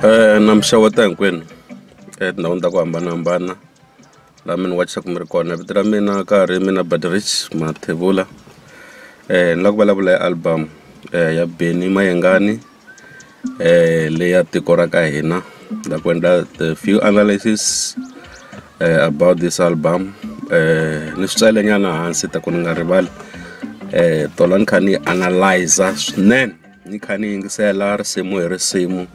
Eh, na mixaweta hinkwenu etindhawini ta ku hambanahambana laha mi ni wachisaku mi ri kona vito ra mina ka ha ri mina Baderich Mathebula eh ni la ku vulavula hi album eh ya Benny Mayengani eh leyi ya tiko ra ka hina ni la ku endla the few analysis eh about this album eh ni swi tsale nyana hansi ta ku ni nga rivali eh tola ni kha ni analyser swinene. ni kha ni yingisela risimu hi risimu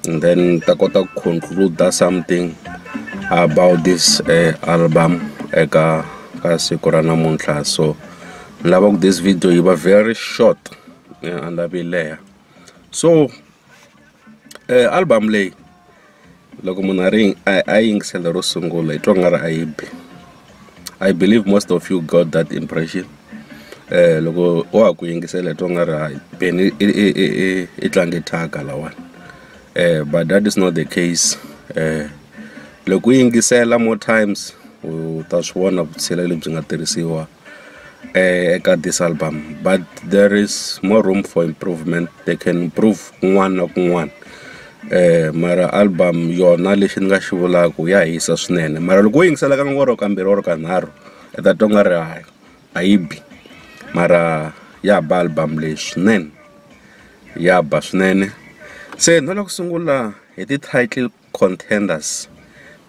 and then ni ta kota ku conclude something about this uh, album eka ka siku ra namuntlha so ni lava ku this video yi va very short eh, and a leha so album leyi loko munhu a ri a a yingisela ro sungula hi twa nga ri a yi bi I believe most of you got that impression loko wa ha ku yingisela hi twa nga ri ha yi beni i i i i i tlange thyaka lawani but that is not the case loko u yingisela more times u ta swi vona vutshila lebyi nga tirhisiwa. eka this album but there is more room for improvement they can improve kun'wana na kun'wana mara album yona lexi ni nga xi vulaku ya hisa swinene mara loko wo yingisela ka or kambirhi or kanharhu i ta twa nga ri hayi a yi bi mara ya ba album leyi swinene ya ba swinene se na le ku sungula hi ti-title. Contenders.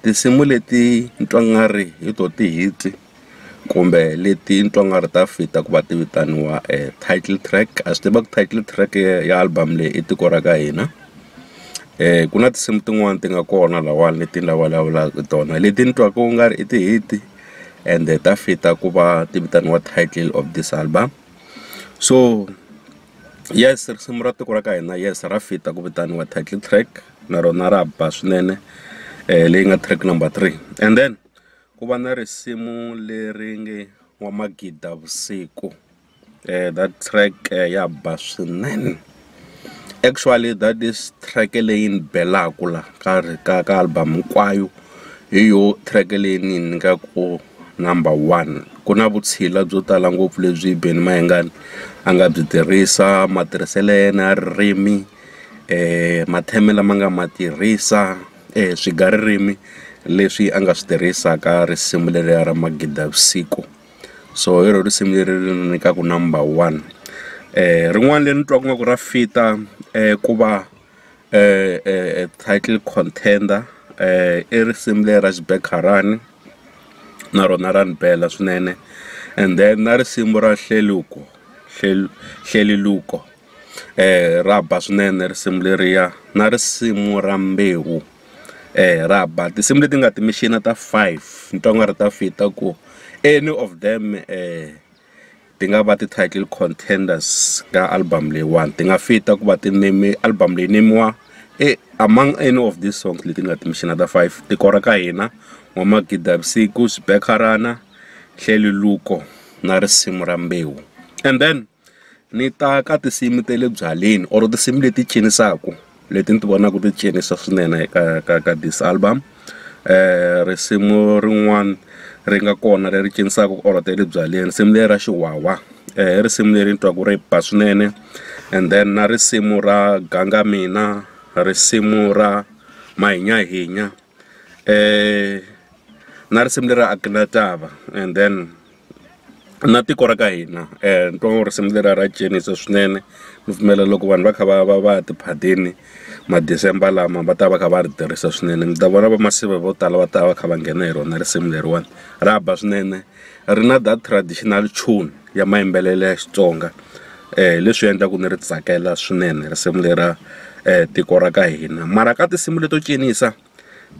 Tinsimu leti ni twa nga ri hi to ti-hit kumbe leti ni twa nga ri ta fit-a ku va ti vitaniwa title track a swi tiva ku title track ya album leyi i tiko ra ka hina ku na tinsimu tin'wani ti nga kona lahawani leti ni la vulavulaka tona leti ni twaka ku nga ri i ti-hit ende ta fit-a ku va ti vitaniwa title of this album so. yes risimu ra tiko ra ka hina yes ra fit-a ku vitaniwa title track na rona ra ba swinene um leyi nga track number three and then ku va na risimu leri nge wa magida vusiku um that track ya ba swinene actually that is track leyi ni belaku la ka ka ka album hinkwayo. hi yo track leyi ni yi nyikaku number one ku na vutshila byo tala ngopfu lebyi Benny Mayengani a nga byi tirhisa matirhiselo ya yena ya ririmi matheme lama nga ma tirhisa swigaririmi leswi a nga swi tirhisa ka risimu leriya ra magida ya vusiku so hi ro risimu leri ri ni nyikaku number one rin'wani leri ni twaku nga ku ra fita ku va. title contender i risimu leri ra xibekharani na rona ra ni bela swinene and then na risimu ra hleluko hleluluko ra ba swinene risimu leriya na risimu ra mbewu ra ba tinsimu leti nga ti-machine ta five ni twa nga ri ta fit ta ku any of them . ti nga va ti-title contenders ka album leyiwani ti nga fita ku va ti name album leyi nemiwa e among any of these songs leti ni nga timixina ta five tiko ra ka hina wa magida vusiku xibekharana hleli luko na risimu ra mbewu and then ni ta ka tinsimu ta le byaleni or tinsimu leti cinisaku. leti ni ti vonaka ti cinisa swinene ka ka ka this album risimu rin'wana ri nga kona leri cinisaka ku karhata ya le byaleni nsimu leri ra xiwawa i risimu leri ni twaka ri ba swinene and then na risimu ra ganga mina risimu ra mahinyahinya. um na risimu leri a ku na tava and then na tiko ra ka hina um ni twa ngo risimu leriya ra cinisa swinene ni pfumela loko vanhu va kha va va va ya tiphadini ma-December lama va ta va kha va ri tirhisa swinene mi ta vona vamasiva vo tala va ta va kha va nghena hi rona risimu leriwani ra ba swinene. ri na that traditional tune ya mayimbelelo ya Xitsonga leswi endlaku ni ri tsakela swinene risimu lera tiko ra ka hina mara ka tinsimu leto cinisa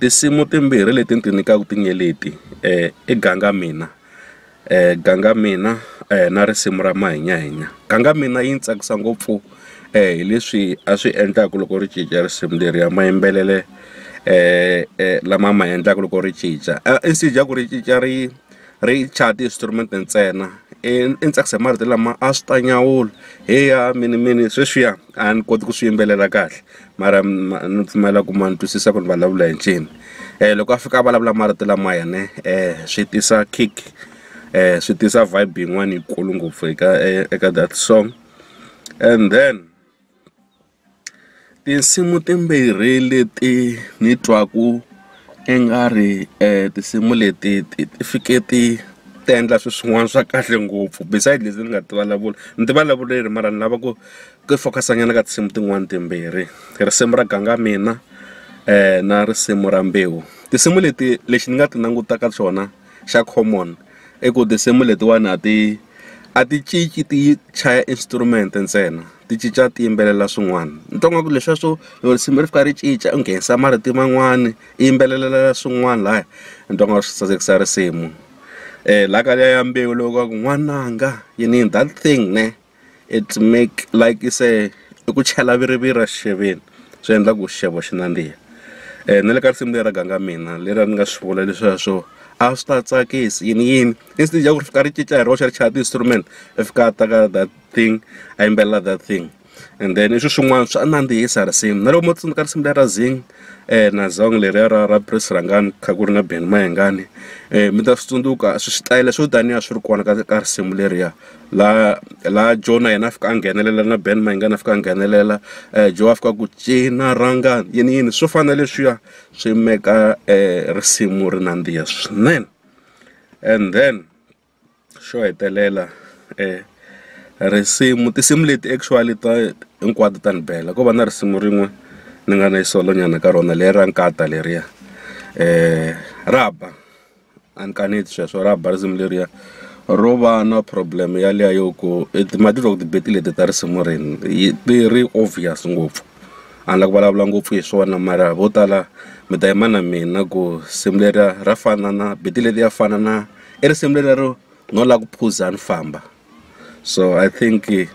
tinsimu timbirhi leti ni ti nyikaku ti nge leti i ganga mina ganga mina na risimu ra mahinyahinya ganga mina yi ni tsakisa ngopfu hi leswi a swi endlaku loko ri cinca risimu leriya mayimbelele. lama ma endlaka loko ri cinca inside ya ku ri cinca ri ri chaya ti-instrument ntsena i ni tsakisa hi marito lama a swi ta nyawula he ya minimini sweswiya a ni koti ku swi yimbelela kahle mara ma ni pfumela ku ma ni twisisa ku ni vulavula hi ncini loko a fika a vulavula marito lama ya ne swi tisa kick swi tisa vibe yin'wani yikulu ngopfu eka eka that song and then. Tinsimu timbirhi leti ni twaku i nga ri tinsimu leti ti ti fike ti ti endla swi swin'wana swa kahle ngopfu beside leti ni nga ti vulavula ni ti vulavule ri mara ni lava ku ku focus-a nyana ka tinsimu tin'wani timbirhi risimu ra ganga mina na risimu ra mbewu tinsimu leti lexi ni nga ti langutaka swona. xa common i ku tinsimu letiwani a ti a ti cinci ti chaya instrument ntsena ti cinca ti yimbelela swin'wana ni twa ngaku leswiya swo loko risimu ri fika ri cinca u nghenisa marito man'wani i yimbelelela swin'wani laya ni twa nga swi sasekisa risimu la ka liya ya Mbewu lowu wa ku n'wananga yini yini that thing ne. it make like i say i ku chela viriviri exixeveni swi endla ku xixevo xi nandziha um na le ka risimu leri ra ganga mina leri a ni nga swi vula leswiya swo a swi ta tsakisi yini yini instead ya ku ri fika ri cinca hi roxe ri chaya ti-instrument i fika a taka that thing a yimbelela that thing and then i swi swin'wana swa nandzihisa risimu na loko mo tsundzuka risimu leri ra zing um na zong leriya ra ra pris rhangani kha ku ri na ben mayengani um mi ta swi tsundzuka switayele swo taniya swi ri kona ka ka risimu leriya laha laha Joe na yena a fika a nghenelela na Ben Mayengani a fika a nghenelela Joe a fika ku cina rhangani yini yini swo fana na leswiya swi meka risimu ri nandziha swinene and then xo hetelela risimu tinsimu leti actually ta hinkwato ta ni bela ko va na risimu rin'we ni nga na yi solo nyana ka rona le ra nkata leriya ra ba. a ni kaneti sweswo ra ba risimu leriya ro va na problem yaliya yo ku ma titwa ku ti-beat leti ta risimu rini ti ri obvious ngopfu a ni la ku vulavula ngopfu hi swona mara vo tala mi ta yima na mina ku risimu leriya ra fana na beat leti ya fana na i risimu leriya ro no la ku phuza ni famba. so i think eh,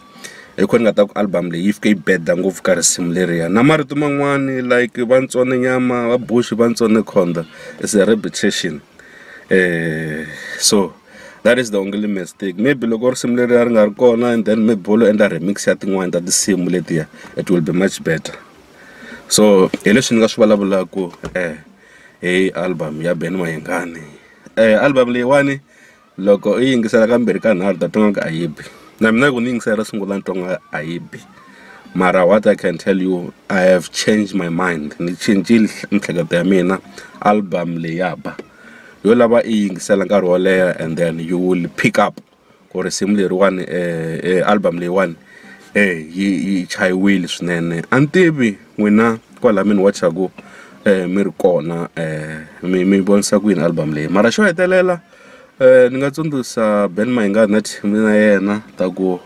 hi khona nga ta ku album leyi yi fike yi beda ngopfu ka risimu leriya na marito man'wani like va ntsone nyama va bushi va ntsone khonda is a repetition eh so that is the only mistake maybe loko risimu leriya ri nga ri kona and then maybe wo lo endla remix ya tin'wani ta tinsimu letiya it will be much better so hi leswi ni nga swi vulavulaka eh hi album ya ben mayengani eh album leyiwani Loko u yi yingisela kambirhi ka nharhu u ta twa nga ku a yi bi na mina loko ni yingisela ro sungula ni twa nga a yi bi mara what I can tell you I have changed my mind ni cincile miehleketo ya mina album leyi ya ba yo lava i yingisela nkarhi wo leha and then you will pick up ku risimu leriwani album leyiwani yi yi chayiwile swinene a ni tivi n'wina kwala mi ni wachaku mi ri kona mi mi vonisa ku yini album leyi mara xo hetelela. Ni nga tsundzuxa Ben Mayengani na team ya yena ta ku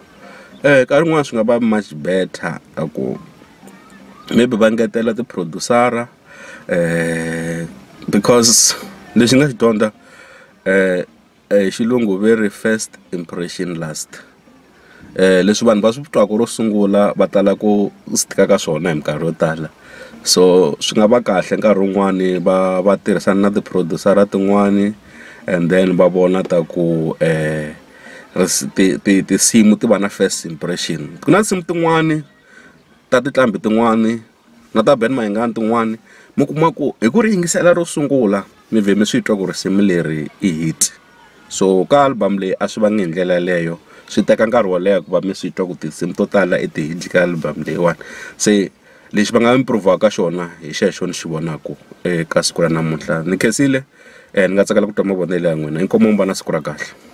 nkarhi wun'wani swi nga va much better ta ku maybe va ngetela ti producer-a because lexi ni nga xi dyondza hi xilungu ve ri first impression last. Leswi vanhu va swi twaka ro sungula va tala ku swi tika ka swona hi minkarhi yo tala so swi nga va kahle nkarhi wun'wani va va tirhisana na tiphurodiwusara tin'wani and then va vona ta ku tinsimu ti va na first impression ku na tinsimu tin'wani ta tinqambi tin'wani. na ta Ben Mayengani tin'wani mi kuma ku hi ku ri yingisela ro sungula mi vhe mi swi twa ku risimu leri i hit so ka album leyi a swi vangi hi ndlela yaleyo swi teka nkarhi wo leha ku va mi swi twa ku tinsimu to tala i ti hit ka album leyiwani se lexi va nga improv-aka xona hi xexo ni xi vonaku eka siku ra namuntlha ni khensile ni nga tsakela ku twa mavonelo ya n'wina inkomu mi va na siku ra kahle.